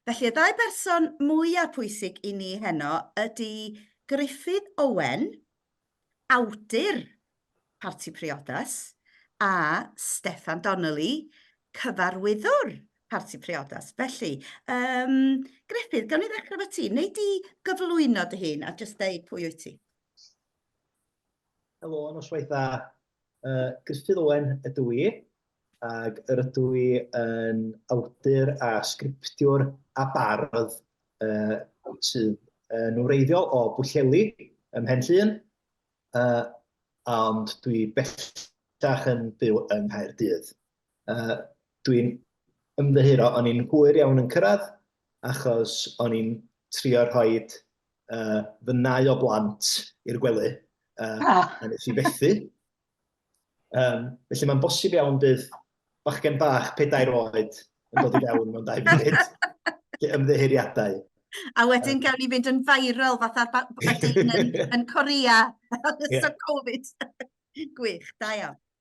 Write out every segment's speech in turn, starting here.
Felly, y ddau berson mwyaf pwysig i ni heno ydy Gruffydd Owen, awdur Parti Priodas, a Steffan Donnelly, cyfarwyddwr Parti Priodas. Felly, um, Gruffydd, gawn ni ddechrau fo ti. Wnei di gyflwyno dy hun a jyst deud pwy wyt ti? Helo, noswaith dda. Uh, Griffith Owen ydw i, ac yr ydw i yn awdur a sgriptiwr a bardd uh, sydd yn wreiddiol o Bwlleli ym Mhen Llŷn, uh, ond dwi bellach yn byw yng Nghaerdydd. Uh, Dwi'n ymddeheuro, o'n i'n hwyr iawn yn cyrraedd, achos o'n i'n trio rhoi uh, fy nau o blant i'r gwely, uh, ah. a nes i fethu. Um, felly mae'n bosib iawn bydd bachgen bach pedair oed yn dod i fewn mewn dau funud. Ymddeheuriadau. A wedyn um, gawn ni fynd yn viral fatha Badin yn, yn Corea yn ystod yeah. Covid. Gwych, da iawn.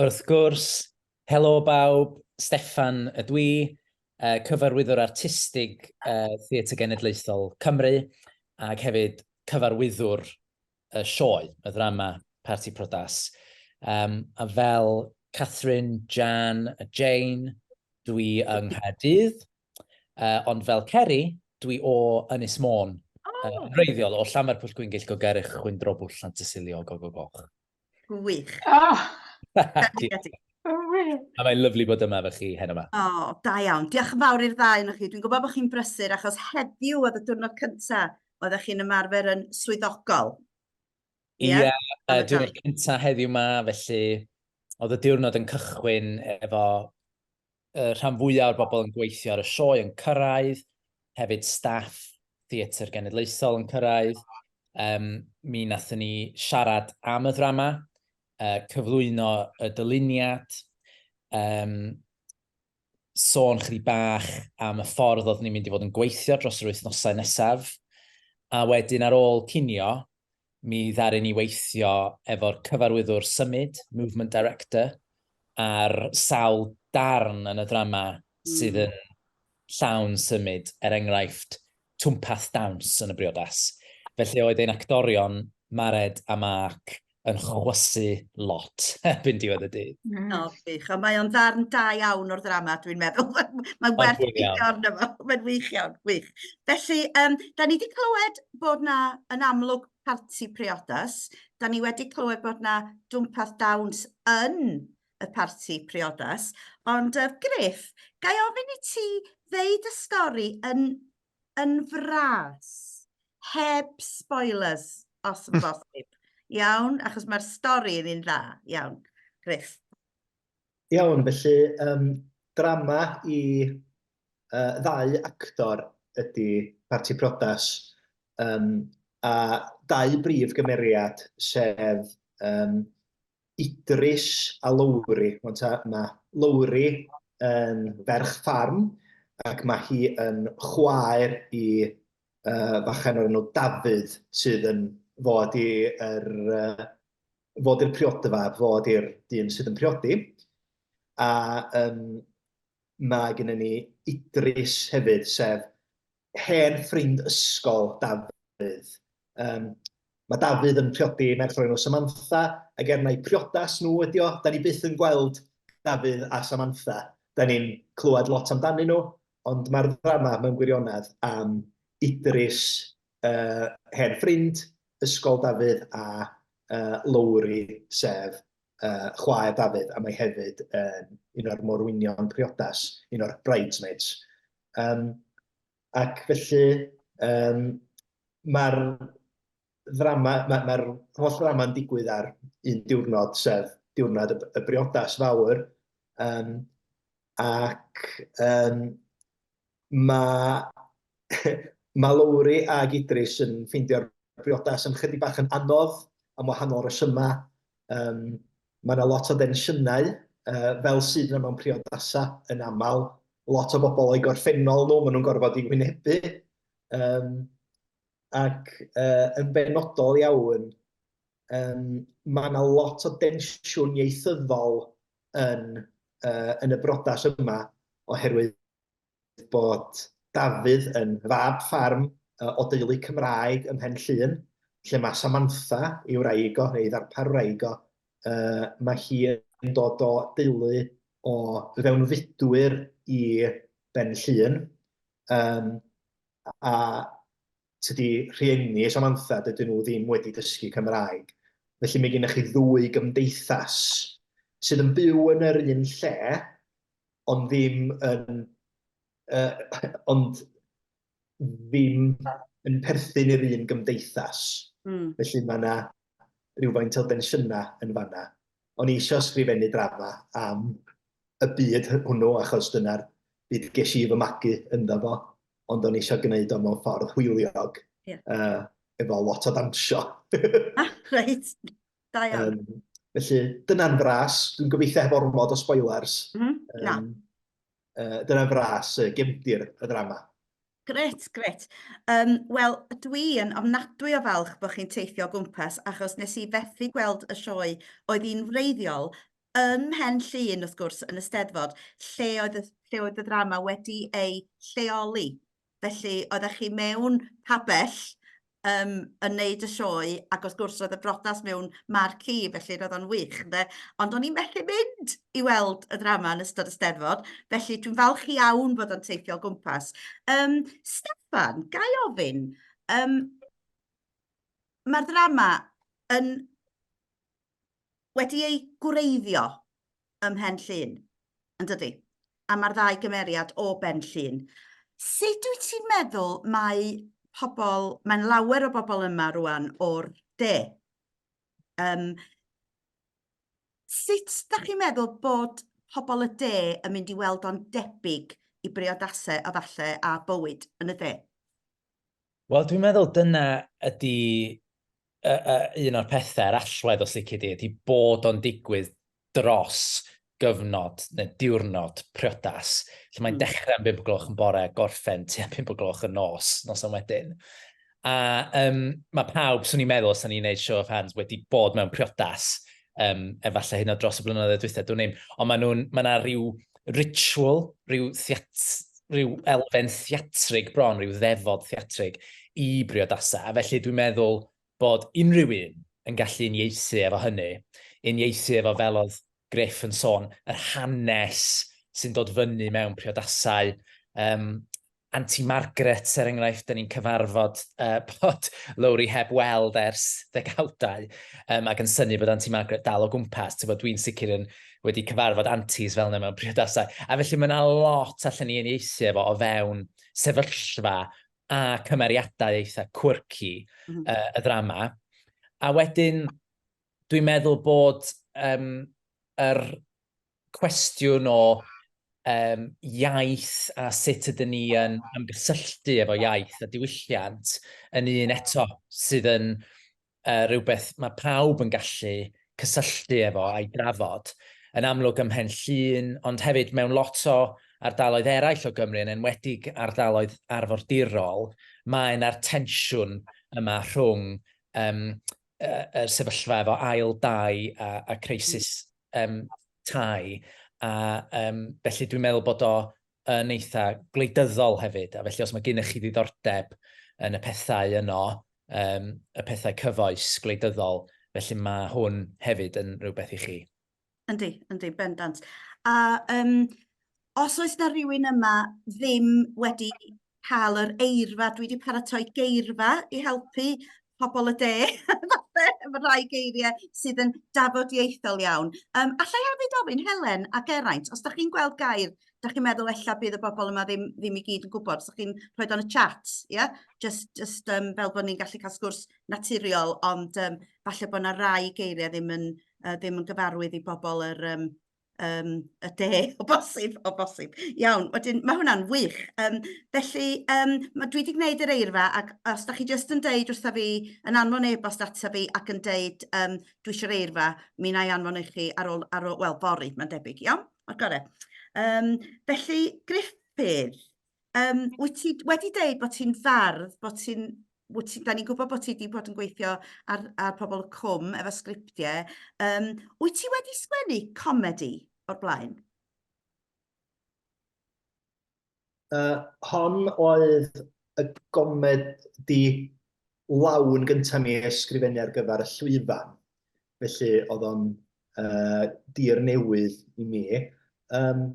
Wrth gwrs, helo bawb, Steffan ydw i, Cyfarwyddwr Artistig Theatr Genedlaethol Cymru ac hefyd Cyfarwyddwr y sioe, y ddrama Parti Priodas. Um, a fel Catherine, Jan a Jane, dw i yng Nghaerdydd, uh, ond fel Ceri, dw i o Ynys Môn, oh. uh, reiddiol o Llanfair Pwll Gwyngyll, Gogerych, Chwyndrobwll, Llantysilio, Gogogoch. Gwych. Oh. A mae'n lyflu bod yma fe chi hen yma. O, oh, da iawn. Diolch yn fawr i'r ddau yn chi. Dwi'n gwybod bod chi'n brysur achos heddiw oedd y diwrnod cyntaf oedd chi'n ymarfer yn swyddogol. Ie, yeah, yeah, uh, diwrnod cyntaf heddiw yma, felly oedd y diwrnod yn cychwyn efo y rhan fwyaf o'r bobl yn gweithio ar y sioe yn cyrraedd, hefyd staff Theatr Genedlaethol yn cyrraedd. Um, mi nathon ni siarad am y ddrama, uh, cyflwyno y dyluniad, um, sôn chri bach am y ffordd oedd ni'n mynd i fod yn gweithio dros yr wythnosau nesaf, a wedyn ar ôl cinio, Mi ddaru ni weithio efo'r cyfarwyddwr symud, movement director, ar sawl darn yn y ddrama sydd yn llawn symud, er enghraifft, twmpath dawns yn y briodas. Felly oedd ein actorion, Mared a Mark, yn chwysu lot erbyn diwedd y dydd. Mm. O, wych. Ond mae o'n ddarn da iawn o'r ddrama, dwi'n meddwl. Mae'n werth gweithio arno fo. Mae'n wych iawn, wych. Felly, um, da ni wedi clywed bod na yn amlwg parti priodas, da ni wedi clywed bod na dwmpath dawns yn y parti priodas, ond uh, Griff, gai ofyn i ti ddeud y stori yn, yn fras, heb spoilers, os yn bosib. Iawn, achos mae'r stori yn un dda. Iawn, Griff. Iawn, felly, um, drama i uh, ddau actor ydy Parti Prodas, um, a dau brif gymeriad, sef um, Idris a Lowri. Mae Lowri yn ferch ffarm, ac mae hi yn chwaer i uh, fachen o'r enw Dafydd, sydd yn fod i'r uh, fod i'r priodfa, fod i'r dyn sydd yn priodi. A um, mae gennym ni Idris hefyd, sef hen ffrind ysgol Dafydd. Um, mae Dafydd yn priodi merch o'r enw Samantha, ac er mai priodas nhw ydi o, da ni byth yn gweld Dafydd a Samantha. Da ni'n clywed lot amdanyn nhw, ond mae'r ddrama mewn gwirionedd am Idris, uh, hen ffrind, ysgol Dafydd a uh, Lowri, sef uh, chwaer Dafydd, a mae hefyd um, un o'r morwynion priodas, un o'r bridesmaids. Um, ac felly, um, mae'r ddrama, mae'r ma, ma holl ddrama'n digwydd ar un diwrnod, sef diwrnod y, y briodas fawr, um, ac um, mae mae Lowri ag Idris yn ffeindio'r briodas yn chydig bach yn anodd am wahanol resymau. Um, mae yna lot o densiynau, uh, fel sydd yna mewn priodasau yn aml. Lot o bobl o'i gorffennol nhw, maen nhw'n gorfod i wynebu. Um, ac uh, yn benodol iawn, um, mae yna lot o densiwn ieithyddol yn, uh, yn y brodas yma, oherwydd bod Dafydd yn fab ffarm o deulu Cymraeg ym Mhen Llŷn, lle mae Samantha, ei wraig o, ei ddarpar wraig o, uh, mae hi yn dod o deulu o fewnfudwyr i Ben Llŷn. Um, a tydi rhieni Samantha, dydyn nhw ddim wedi dysgu Cymraeg. Felly mae gennych chi ddwy gymdeithas sydd yn byw yn yr un lle, ond ddim yn... yy ond ddim yn perthyn i'r un gymdeithas. Mm. Felly mae yna rhywfaint o densiynau yn fanna. O'n i eisiau sgrifennu drama am y byd hwnnw, achos dyna'r byd ges i fy magu ynddo fo, ond o'n i eisiau gwneud o mewn ffordd hwyliog, yeah. uh, efo lot o dawnsio. ah, reit. Da iawn. Um, felly, dyna'n fras. Dwi'n gobeithio heb ormod o spoilers. Mm -hmm. um, Na. Uh, dyna'n fras uh, gefndir y ddrama. Gret, gret. Um, Wel, dwi yn ofnadwy o falch bod chi'n teithio o gwmpas achos nes i fethu gweld y sioe oedd hi'n wreiddiol ym Mhen Llun, wrth gwrs, yn y Steddfod, lle oedd y, lle oedd y ddrama wedi ei lleoli. felly oeddech chi mewn pabell um, yn neud y sioe ac wrth gwrs roedd y brodas mewn marci felly roedd o'n wych ynde ond o'n i'n methu mynd i weld y ddrama yn ystod y steddfod felly dwi'n falch iawn bod o'n teithio o gwmpas. Um, Stefan, gai ofyn, um, mae'r ddrama yn wedi ei gwreiddio ym Mhen Llŷn, yn dydi? A mae'r ddau gymeriad o Ben Llŷn. Sut wyt ti'n meddwl mae pobl, mae'n lawer o bobl yma rwan o'r de. Um, sut da chi'n meddwl bod pobl y de yn mynd i weld o'n debyg i briodasau a falle a bywyd yn y de? Wel, dwi'n meddwl dyna ydy uh, uh, un o'r pethau a'r allwedd os lici di, ydy bod o'n digwydd dros gyfnod neu diwrnod priodas. Lle mae'n mm. dechrau yn 5 gloch yn bore, gorffen ti am 5 gloch yn nos, nos am wedyn. A um, mae pawb, swn i'n meddwl, os ni'n gwneud show of hands, wedi bod mewn priodas um, efallai hyn o dros y blynyddoedd dwythau, dwi'n ein, ond mae nhw'n, mae yna rhyw ritual, rhyw, theat, rhyw elfen theatrig bron, rhyw ddefod theatrig i briodasau. A felly dwi'n meddwl bod unrhyw un yn gallu unieithu efo hynny, unieithu efo fel oedd Griff yn sôn, yr hanes sy'n dod fyny mewn priodasau, um, Anti Margaret, er enghraifft, dan ni'n cyfarfod uh, bod Lowri heb weld ers ddegawdau, um, ac yn syni bod Anti Margaret dal o gwmpas. Dwi'n sicr yn wedi cyfarfod antis fel yna mewn priodasau. A felly mae yna lot allan ni unieithu efo o fewn sefyllfa a cymeriadau eitha quirky mm -hmm. uh, y ddrama. A wedyn, dwi'n meddwl bod um, yr cwestiwn o um, iaith a sut ydyn ni yn ymgysylltu efo iaith a diwylliant yn un eto sydd yn uh, rhywbeth mae pawb yn gallu cysylltu efo a'i drafod yn amlwg ym Mhen Llun, ond hefyd mewn lot o ardaloedd eraill o Gymru, yn enwedig ardaloedd arfordirol, mae yna'r tensiwn yma rhwng um, uh, er sefyllfa efo ail dau a, a crisis um, tai. A um, felly dwi'n meddwl bod o yn eitha gwleidyddol hefyd. A felly os mae gennych chi ddiddordeb yn y pethau yno, um, y pethau cyfoes gwleidyddol, felly mae hwn hefyd yn rhywbeth i chi. Yndi, yndi, bendant. A um, os oes na rhywun yma ddim wedi cael yr eirfa, dwi wedi paratoi geirfa i helpu pobl y de, falle, efo rhai geiriau sydd yn dafodieithol iawn. Um, allai hefyd ofyn, Helen a Geraint, os da chi'n gweld gair, da chi'n meddwl ella bydd y bobl yma ddim, ddim i gyd yn gwybod, os da chi'n rhoi dan y chat, ie? Yeah? Just, just um, fel bod ni'n gallu cael sgwrs naturiol, ond um, falle bod yna rai geiriau ddim yn yy ddim yn gyfarwydd i bobol yr yym yym y de o bosib o bosib. Iawn wedyn ma' hwnna'n wych yym felly yym ma' dwi 'di gwneud yr eirfa ac os 'dach chi jyst yn deud wrtha fi yn anfon e-bost ata fi ac yn deud yym dwi isio'r eirfa mi 'nai anfon i chi ar ôl ar ôl wel fory ma'n debyg iawn? Ma'n gore. Yym felly Gruffydd Yym wyt ti wedi deud bod ti'n fardd bod ti'n wyt ti... 'da ni'n gwybod bod ti 'di bod yn gweithio ar ar Pobol y Cwm efo sgriptiau yym wyt ti wedi sgwennu comedi o'r blaen? Yy hon oedd y gomedi lawn gyntaf mi ysgrifennu ar gyfer y llwyfan, felly oedd o'n uh, dir newydd i mi. Um,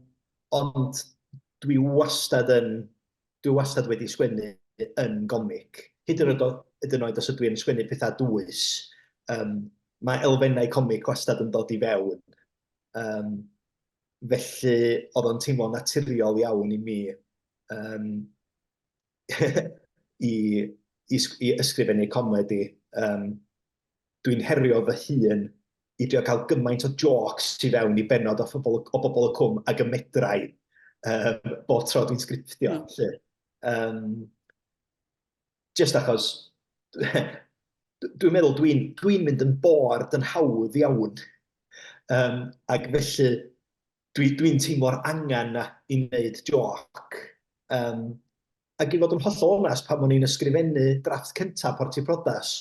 ond dwi wastad yn, dwi wastad wedi sgwennu yn gomic. Hyd yn oed, hyd yn oed os ydw i'n sgwennu pethau dwys, um, mae elfennau comic wastad yn dod i fewn. Um, felly oedd o'n teimlo naturiol iawn i mi um, i, i, i ysgrifennu comedi. Um, dwi'n herio fy hun i drio cael gymaint o jôcs i fewn i benod o bobl, o bobl y cwm ag y medrau um, bob tro dwi'n sgriptio. Mm. Lle. Um, just achos dwi'n meddwl dwi'n dwi mynd yn bored yn hawdd iawn. Um, ac felly, dwi dwi'n teimlo'r angen 'na i wneud jôc. Yym, ac i fod yn hollol onest, pan o'n i'n ysgrifennu drafft cynta Porti Prodas,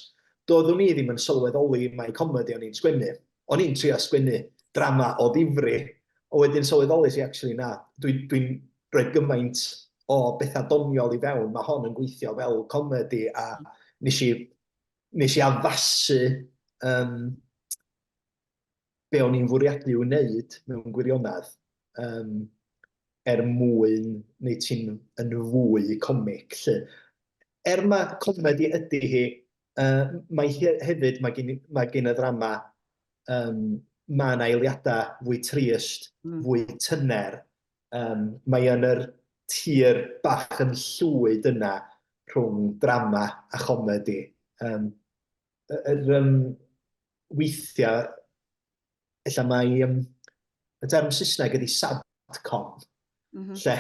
doeddwn i ddim yn sylweddoli mai comedi o'n i'n sgwennu. O'n i'n trio sgwennu drama o ddifri, ond wedyn sylweddolais i actually na, dwi dwi'n rhoi gymaint o bethau doniol i fewn, mae hon yn gweithio fel comedi, a nes i nes i addasu yym be o'n i'n fwriadu i'w wneud mewn gwirionedd um, er mwyn neu ti'n yn fwy comic. Lle. Er mae comedi ydy hi, uh, mae hi hefyd, mae gen, mae gen y ddrama, um, mae yna eiliadau fwy trist, mm. fwy tyner. Um, mae yn yr tir bach yn llwyd yna rhwng drama a chomedi. Um, yr um, weithiau, efallai mae um, y term Saesneg ydy sadcom, mm -hmm. lle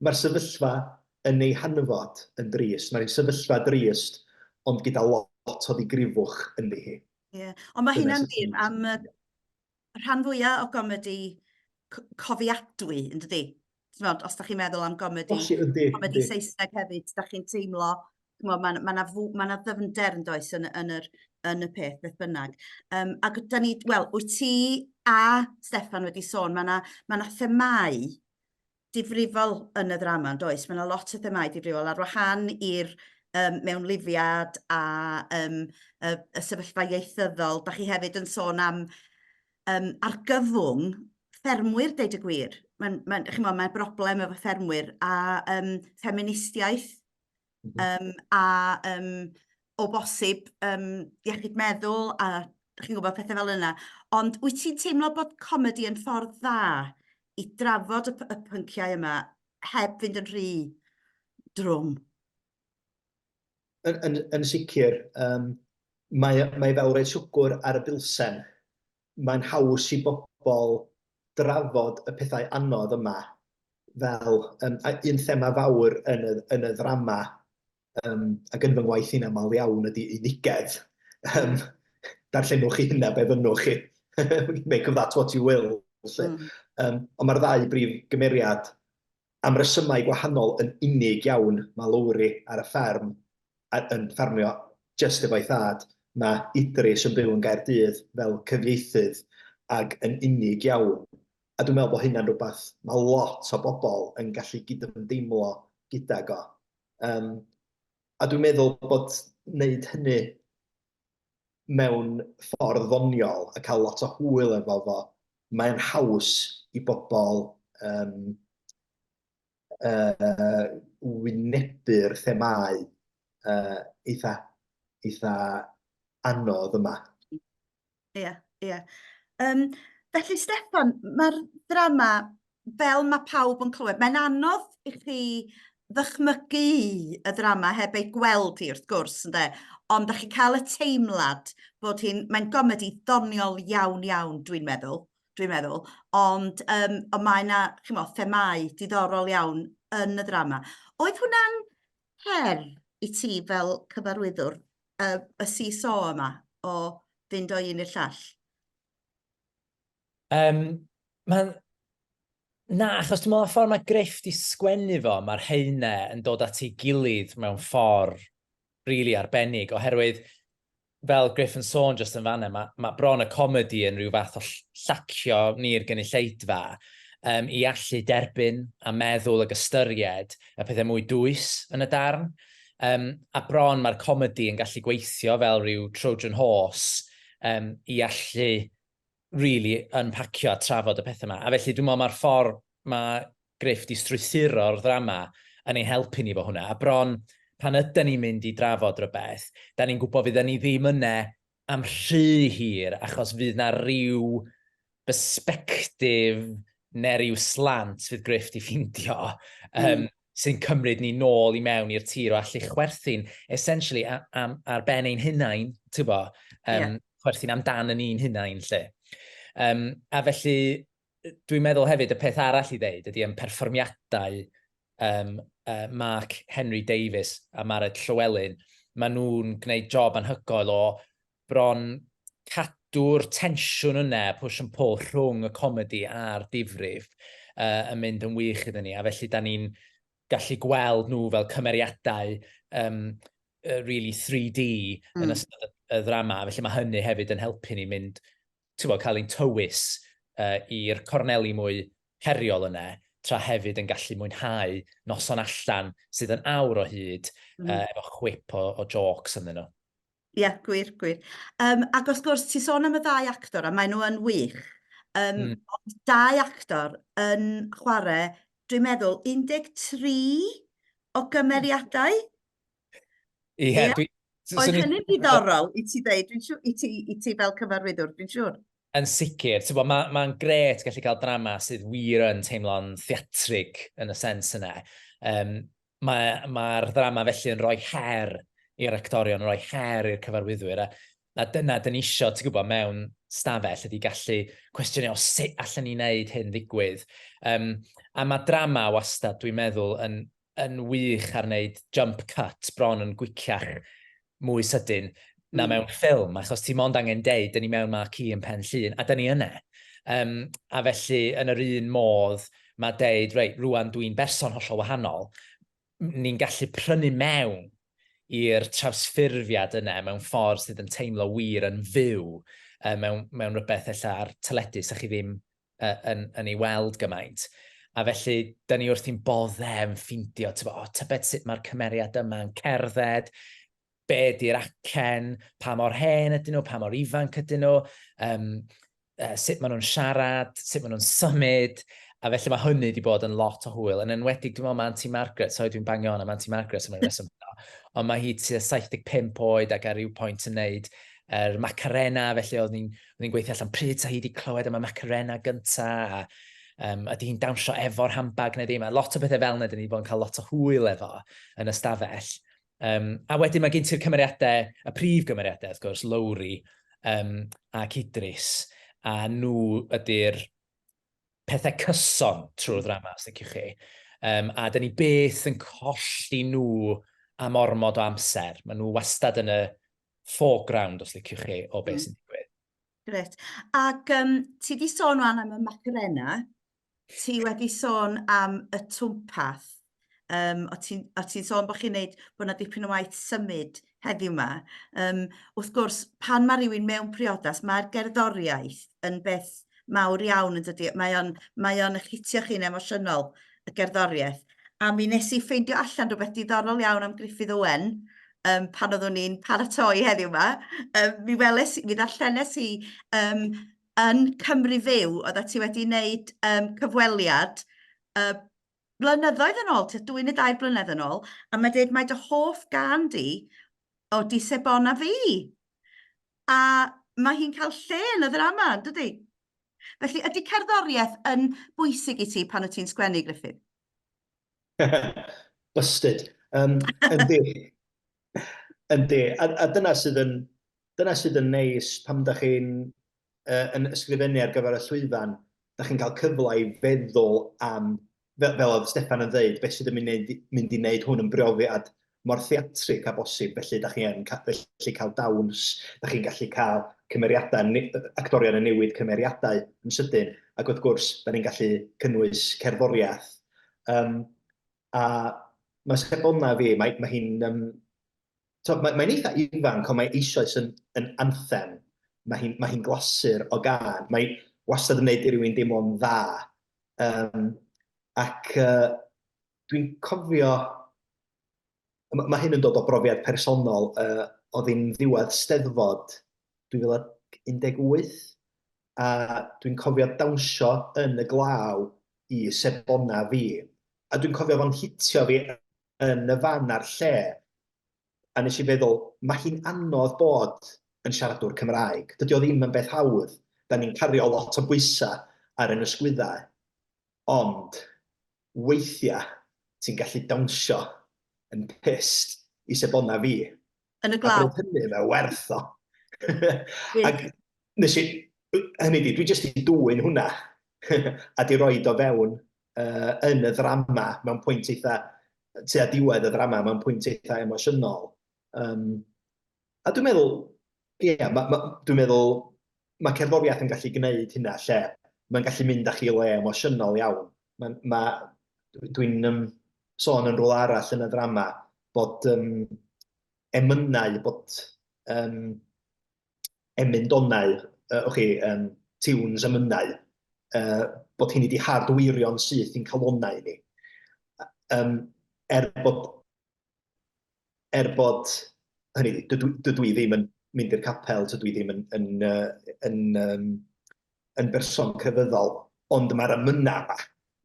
mae'r sefyllfa yn ei hanfod yn drist. Mae'n sefyllfa drist, ond gyda lot o ddigrifwch yn ddi hi. Yeah. Ond mae hynna'n wir am y rhan fwyaf o gomedi cofiadwy, yn dydy? Tmod, os da chi'n meddwl am gomedi, Os yndi, comedi yndi. Saesneg hefyd, da chi'n teimlo, mae yna ma na, ma na ddyfnder yn does yn, yn, yr, yn y peth, beth bynnag. Um, ac da ni, wel, wyt ti a Stefan wedi sôn, mae yna ma na themau difrifol yn y ddrama, yn does? Mae yna lot o themau difrifol ar wahan i'r um, mewn lifiad a um, y, y sefyllfa ieithyddol. Da chi hefyd yn sôn am um, argyfwng ffermwyr, deud y gwir. Mae'n ma, ma, ma broblem efo ffermwyr a um, ffeministiaeth um, a um, o bosib um, iechyd meddwl a chi'n gwybod pethau fel yna. Ond wyt ti'n teimlo bod comedi yn ffordd dda i drafod y, y pynciau yma heb fynd yn rhy drwm? Yn, yn, yn sicr, um, mae, mae fel rhaid siwgwr ar y bilsen. Mae'n haws i bobl drafod y pethau anodd yma fel um, un thema fawr yn y, yn y ddrama um, ac yn fy ngwaith i'n aml iawn ydy unigedd. Um, darllenwch chi hynna be fynnwch chi. Make of that what you will. Um, ond mae'r ddau brif gymeriad am resymau gwahanol yn unig iawn ma Lowri ar y fferm a yn ffermio jyst efo'i thad, ma Idris yn byw yn Gaerdydd fel cyfieithydd ag yn unig iawn a dwi'n meddwl bod hynna'n rhywbeth ma lot o bobl yn gallu gydymdeimlo gydag o. Yym a dwi'n meddwl bod neud hynny mewn ffordd ddoniol a cael lot o hwyl efo fo, mae'n haws i bobl um, uh, wynebu'r themau uh, eitha, eitha anodd yma. Ie, yeah, ie. Yeah. Um, felly, Stefan, mae'r drama fel mae pawb yn clywed, mae'n anodd i chi ddychmygu y ddrama heb ei gweld hi wrth gwrs ynde, ond da chi cael y teimlad bod hi'n, mae'n gomedi ddoniol iawn iawn dwi'n meddwl, dwi'n meddwl, ond um, o mae yna, chi'n meddwl, themau diddorol iawn yn y ddrama. Oedd hwnna'n her i ti fel cyfarwyddwr uh, y CSO yma o fynd o un i'r llall? Um, Mae'n... Na, achos dwi'n meddwl y ffordd mae Griff di sgwennu fo, mae'r heine yn dod at ei gilydd mewn ffordd rili really arbennig, oherwydd fel Griff yn sôn jyst yn fanna, mae, mae bron y comedi yn rhyw fath o llacio ni'r gynulleidfa um, i allu derbyn a meddwl ag ystyried y pethau mwy dwys yn y darn. Um, a bron mae'r comedi yn gallu gweithio fel rhyw Trojan horse um, i allu rili yn pacio a trafod y pethau yma. A felly dwi'n meddwl mae'r ffordd mae Griff di strwythuro'r ddrama yn ei helpu ni fo hwnna. A bron pan yden ni'n mynd i drafod rhywbeth, da ni'n gwybod fydden ni ddim yna am rhy hir achos fydd na rhyw bersbectif neu rhyw slant fydd Griff di ffindio. Um, mm. sy'n cymryd ni nôl i mewn i'r tir o allu chwerthin, essentially, am, am, ar ben ein hunain, ti'n bo, um, yeah. chwerthin amdan yn un hunain, lle. Um, a felly, dwi'n meddwl hefyd y peth arall i ddeud ydy yn perfformiadau um, uh, Mark Henry Davis a Mared Llywelyn, maen nhw'n gwneud job anhygoel o bron cadw'r tensiwn yna, push and pull rhwng y comedi a'r difrif uh, yn mynd yn wych iddyn ni, a felly da ni'n gallu gweld nhw fel cymeriadau um, uh, really 3D mm. yn hmm. ystod y, y ddrama, felly mae hynny hefyd yn helpu ni mynd, ti'n bod, cael ein tywys uh, i'r corneli mwy heriol yna, tra hefyd yn gallu mwynhau noson allan sydd yn awr o hyd mm. uh, efo chwip o, o jokes ynddyn nhw. Ie, gwir, gwir. Um, ac wrth gwrs, ti sôn am y ddau actor, a maen nhw yn wych. Um, mm. Ond dau actor yn chwarae, dwi'n meddwl, 13 o gymeriadau. Ie, yeah, yeah. dwi... Oedd hynny'n diddorol i ti ddeud, i ti, i ti fel cyfarwyddwr, dwi'n siŵr. Yn sicr, ti'n bod, mae'n ma gret gallu cael drama sydd wir yn teimlo'n theatrig yn y sens yna. Um, mae'r mae ddrama felly yn rhoi her i'r actorion, yn rhoi her i'r cyfarwyddwyr, a, a dyna dyn ni eisiau, ti'n gwybod, mewn stafell ydy gallu cwestiynau o sut allan ni wneud hyn ddigwydd. Um, a mae drama wastad, dwi'n meddwl, yn, yn wych ar wneud jump cut, bron yn gwiciach mwy sydyn na mm. mewn ffilm, achos ti mond angen deud, dyn ni mewn ma ci yn pen llun, a dyn ni yna. Um, a felly, yn yr un modd, mae deud, reit, rwan dwi'n berson hollol wahanol, ni'n gallu prynu mewn i'r trawsffurfiad yna mewn ffordd sydd yn teimlo wir yn fyw, um, mewn, mewn rhywbeth ella ar teledu, sa chi ddim uh, yn, yn ei weld gymaint. A felly, da ni wrthi'n boddem ffindio, tybo, o, tybed sut mae'r cymeriad yma'n cerdded, be di'r acen, pa mor hen ydyn nhw, pa mor ifanc ydyn nhw, um, uh, sut maen nhw'n siarad, sut maen nhw'n symud, a felly mae hynny wedi bod yn lot o hwyl. Yn enwedig, dwi'n meddwl, mae Auntie Margaret, so dwi'n bangio hon am Auntie Margaret am y reswm yno, ond mae hi tua 75 oed ac ar ryw pwynt yn neud yr er macarena, felly oedd ni'n Roedd hi'n gweithio allan pryd sa hi wedi clywed am y Macarena gynta, a um, ydy hi'n dawnsio efo'r handbag neu ddim, a lot o bethau fel yna, dyn ni wedi bod yn cael lot o hwyl efo yn y stafell. Um, a wedyn mae gen ti'r cymeriadau, y prif gymeriadau, wrth gwrs, Lowry um, a Cydris, a nhw ydy'r pethau cyson trwy'r hmm. ddrama, os ydych chi. Um, a dyn ni beth yn colli nhw am ormod o amser. Mae nhw wastad yn y foreground, os liciwch chi, o beth mm. sy'n digwydd. Gret. Ac um, ti wedi sôn o'n am y macrena, ti wedi sôn am y twmpath, um, o ti'n ti sôn bod chi'n neud bod yna dipyn o waith symud heddiw yma. Um, wrth gwrs, pan mae rhywun mewn priodas, mae'r gerddoriaeth yn beth mawr iawn yn dydy. Mae o'n, mae on eich hitio chi'n emosiynol, y gerddoriaeth. A mi nes i ffeindio allan rhywbeth diddorol iawn am Griffith Owen, um, pan oeddwn ni'n paratoi heddiw yma, um, mi weles, mi ddarllenes i um, yn Cymru Fyw, oedd ti wedi wneud um, cyfweliad uh, blynyddoedd yn ôl, dwy neu dair blynedd yn ôl, a mae dweud mae dy hoff gan di o di sebona fi. A mae hi'n cael lle yn y ddrama, dydy? Felly, ydy cerddoriaeth yn bwysig i ti pan wyt ti'n sgwennu, Griffith? Busted. Um, yndi. yndi. A, a dyna sydd yn, dyna sydd yn neis pam da chi'n uh, yn ysgrifennu ar gyfer y llwyfan, da chi'n cael cyfle i feddwl am, fel, fel oedd Stefan yn dweud, beth sydd yn mynd, mynd i wneud hwn yn brofiad mor theatrig â bosib, felly dach chi yn gallu cael dawns, dach chi'n gallu cael cymeriadau, actorion yn newid cymeriadau yn sydyn, ac wrth gwrs, da ni'n gallu cynnwys cerddoriaeth. Um, a mae Sebona fi, mae, mae hi'n... Um, so, mae, mae'n eitha ifanc, ond mae eisoes yn, yn anthem. Mae hi'n mae hi glasur o gan. Mae wastad yn gwneud i rywun deimlo'n dda. Um, ac uh, Dwi'n cofio, mae hyn yn dod o brofiad personol, uh, o ddim ddiwedd steddfod 2018, a dwi'n cofio dawnsio yn y glaw i sebona fi. A dwi'n cofio fo'n hitio fi yn y fan a'r lle, a nes i feddwl, mae hi'n anodd bod yn siaradwr Cymraeg. Dydy o ddim yn beth hawdd. Da ni'n cario lot o bwysau ar yn ysgwyddau. Ond, Weithia ti'n gallu dawnsio yn pyst i sebona fi. Yn y glaw. A bryd hynny mae werth o. Ac nes i, hynny di, dwi jyst i dwy'n hwnna. a di roi do fewn uh, yn y ddrama mewn pwynt eitha, tu a diwedd y ddrama mewn pwynt eitha emosiynol. Um, A dwi'n meddwl, ie, ma, ma, dwi'n meddwl mae cerddoriaeth yn gallu gwneud hynna lle mae'n gallu mynd â chi le emosiynol iawn. Mae, ma, dwi'n um, sôn yn rôl arall yn y ddrama bod um, emynau, bod um, emyndonau, uh, o'ch chi, um, tiwns emynau, uh, bod hyn wedi hardwirio'n syth i'n calonau ni. Um, er bod er bod, hynny, dydw, dydw i ddim yn mynd i'r capel, dydw i ddim yn, yn, yn, yn, yn, yn berson crefyddol, ond mae'r amynau yma,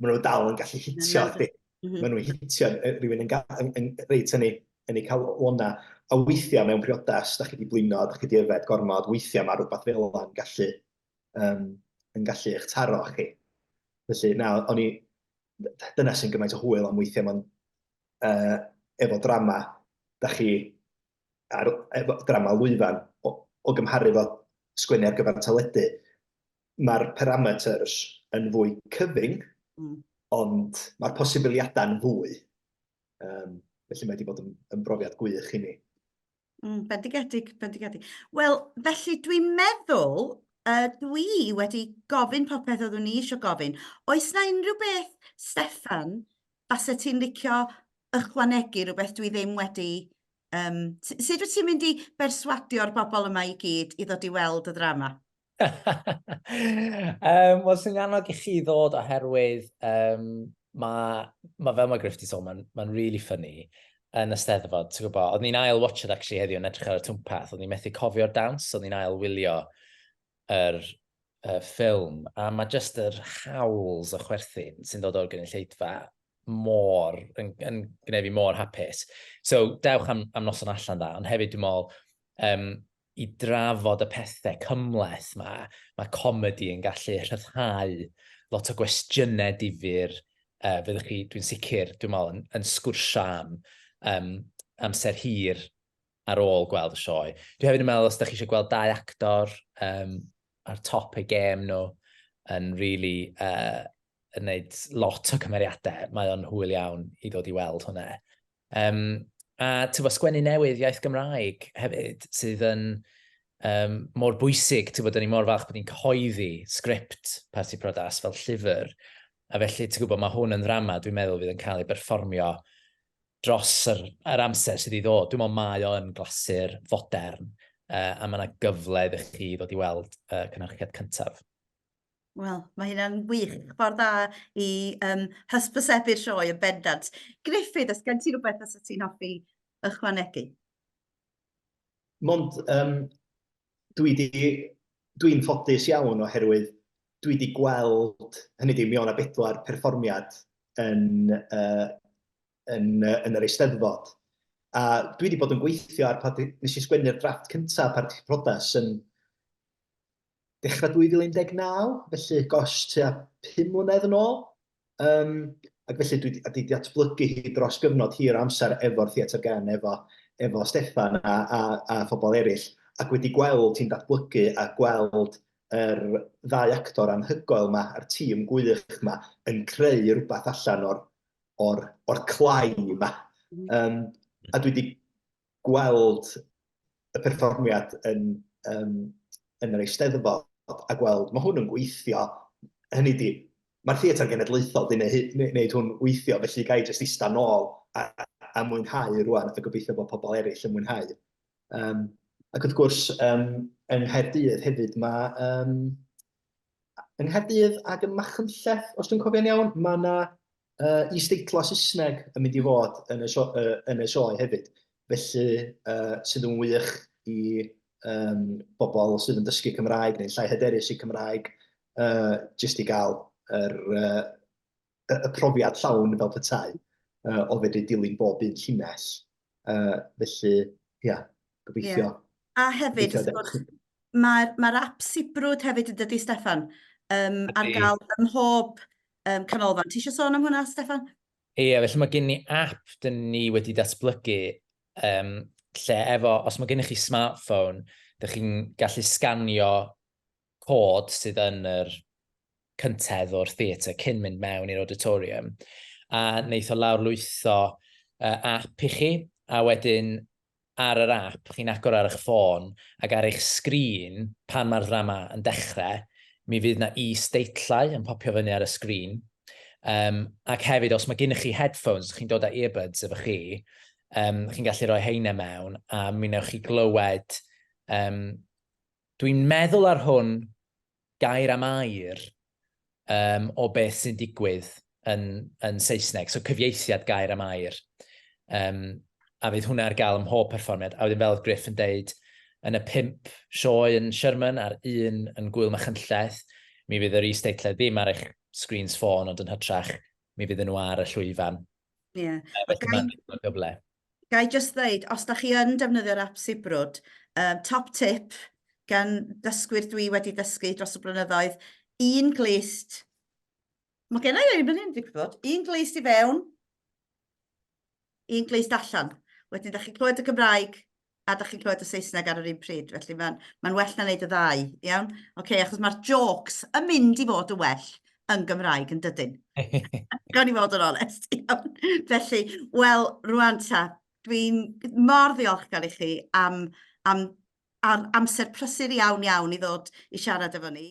maen nhw dal yn gallu hitio chdi. Mhm. Maen nhw'n hitio rhywun yn, yn, yn, reit yn ei, yn ei cael o'na. A weithiau mewn priodas, da chi wedi blino, da chi wedi yfed gormod, weithiau mae rhywbeth fel yna yn gallu, um, yn gallu eich taro chi. Felly, na, o'n i, dyna sy'n gymaint o hwyl am weithiau, mae'n uh, efo drama, da chi, ar, efo drama lwyfan, o, o gymharu fo sgwennu ar gyfer teledu, mae'r parameters yn fwy cyfyng, mm. ond mae'r posibiliadau'n fwy. Um, felly mae wedi bod yn, yn brofiad gwych i ni. Mm, bendigedig, bendigedig. Wel, felly dwi'n meddwl, uh, dwi wedi gofyn popeth oeddwn i eisiau gofyn. Oes na unrhyw beth, Stefan, base ti'n licio ychwanegu rhywbeth dwi ddim wedi... Um, sut wyt ti'n mynd i berswadio'r bobl yma i gyd i ddod i weld y ddrama? um, Wel, sy'n annog i chi ddod oherwydd um, mae, ma, fel mae Griff di sôn, mae'n ma really ffynnu yn y steddfod, ti'n gwybod, oedd ni'n ail watched actually heddiw yn edrych ar y twmpath, oedd ni'n methu cofio'r dawns, oedd ni'n ail wylio yr uh, ffilm, a mae just yr howls o chwerthin sy'n dod o'r gynulleidfa mor, yn, yn gwneud fi mor hapus. So, dewch am, am noson allan dda, ond hefyd dwi'n meddwl, um, i drafod y pethau cymhleth 'ma, mae comedi yn gallu rhyddhau lot o gwestiynau difyr uh, fyddwch chi, dwi'n sicr, dwi'n meddwl, yn, yn sgwrsio am um, amser hir ar ôl gweld y sioe. Dwi hefyd yn meddwl, os da chi eisiau gweld dau actor um, ar top ei gêm nhw, yn really uh, yn gwneud lot o cymeriadau, mae o'n hwyl iawn i ddod i weld hwnna. Um, a tyfo, sgwennu newydd iaith Gymraeg hefyd, sydd yn um, mor bwysig, tyfo, dyn ni mor falch bod ni'n cyhoeddi sgript Parti Prodas fel llyfr. A felly, ti'n gwybod, mae hwn yn ddrama, dwi'n meddwl, fydd yn cael ei berfformio dros yr, yr amser sydd i ddod. Dwi'n meddwl mae o yn glasur fodern, uh, a mae yna gyfle ddech chi ddod i weld uh, cynhyrchiad cyntaf. Wel, mae hynna'n wych. Ffordd dda i um, hysbysebu'r sioe yn bendant. Griffith, os gen ti rhywbeth os ti'n hoffi ychwanegu? Mond, um, dwi di, dwi'n ffodus iawn oherwydd dwi wedi gweld, hynny di, mi o'na bedwar perfformiad yn, uh, yn, uh, yn yr eisteddfod. A dwi wedi bod yn gweithio ar, nes i sgwennu'r drafft cyntaf ar Prodas yn dechrau 2019, felly gosh, tua 5 mlynedd yn ôl. Um, ac felly dwi wedi datblygu hi dros gyfnod hir amser efo'r Theatr Gen, efo, efo Stefan a, a, a phobl eraill, ac wedi gweld hi'n datblygu a gweld yr er ddau actor anhygoel yma a'r tîm gwych yma yn creu rhywbeth allan o'r, or, or clai yma. Um, a dwi wedi gweld y perfformiad yn, um, yn yr eisteddfod a gweld, mae hwn yn gweithio, hynny di, mae'r theatr genedlaethol di wneud hwn weithio, felly gai jyst eista nôl a, a mwynhau rwan, a gobeithio bod pobl eraill yn mwynhau. Um, ac wrth gwrs, um, yng Nghaerdydd hefyd mae um, yng Nghaerdydd ac ym Machynlleth, os dwi'n cofio'n iawn, mae yna uh, is-deitlau Saesneg yn mynd i fod yn y, so, uh, yn y sioe hefyd. Felly, uh, sydd yn wych i um, bobl sydd yn dysgu Cymraeg neu'n llai hyderus i Cymraeg, uh, jyst i gael yr, uh, y, y profiad llawn fel petai, uh, o fedru dilyn bob un llinell. Uh, felly, ia, yeah, gobeithio. Yeah. A hefyd, wrth gwrs, mae'r ma ap sibrwd hefyd yn dydy, Stefan, um, ar gael ym mhob um, canolfan. Ti eisiau sôn am hwnna, Stefan? Ie, yeah, felly mae gen ni app dyn ni wedi datblygu um, lle efo, os mae gennych chi smartphone, dych chi'n gallu sganio cod sydd yn yr cyntedd o'r theatr cyn mynd mewn i'r auditorium, a wneith o lawr lwytho uh, app i chi, a wedyn ar yr app, chi'n agor ar eich ffôn ac ar eich sgrin pan mae'r ddrama yn dechrau, mi fydd na i steitlau yn popio fyny ar y sgrin. Um, ac hefyd, os mae gennych chi headphones, chi'n dod â earbuds efo chi, um, chi'n gallu rhoi heine mewn a mi wnewch chi glywed um, Dwi'n meddwl ar hwn gair am air um, o beth sy'n digwydd yn, yn Saesneg, so cyfieithiad gair am air. Um, a fydd hwnna ar gael ym mhob perfformiad. A wedyn fel oedd Griff yn deud, yn y pimp sioe yn Sherman a'r un yn Gwyl Machynlleth, mi fydd yr is-deitled ddim ar eich screens ffôn, ond yn hytrach, mi fydd nhw ar y llwyfan. Ie. Yeah. Felly mae'n gyfle. Ga i jyst ddeud, os da chi yn defnyddio'r ap Sibrwd, um, top tip gan dysgwyr dwi wedi dysgu dros y blynyddoedd, un glist, mae gen i ei fan hyn, dwi'n gwybod, un glist i fewn, un glist allan. Wedyn, da chi'n clywed y Gymraeg, a da chi'n clywed y Saesneg ar yr un pryd, felly mae'n ma well na wneud y ddau, iawn? Oce, okay, achos mae'r jokes yn mynd i fod yn well yn Gymraeg yn dydyn. Gawn i fod yn onest, iawn. Felly, wel, rwan ta, dwi'n mor ddiolchgar i chi am, am, am amser prysur iawn iawn i ddod i siarad efo ni.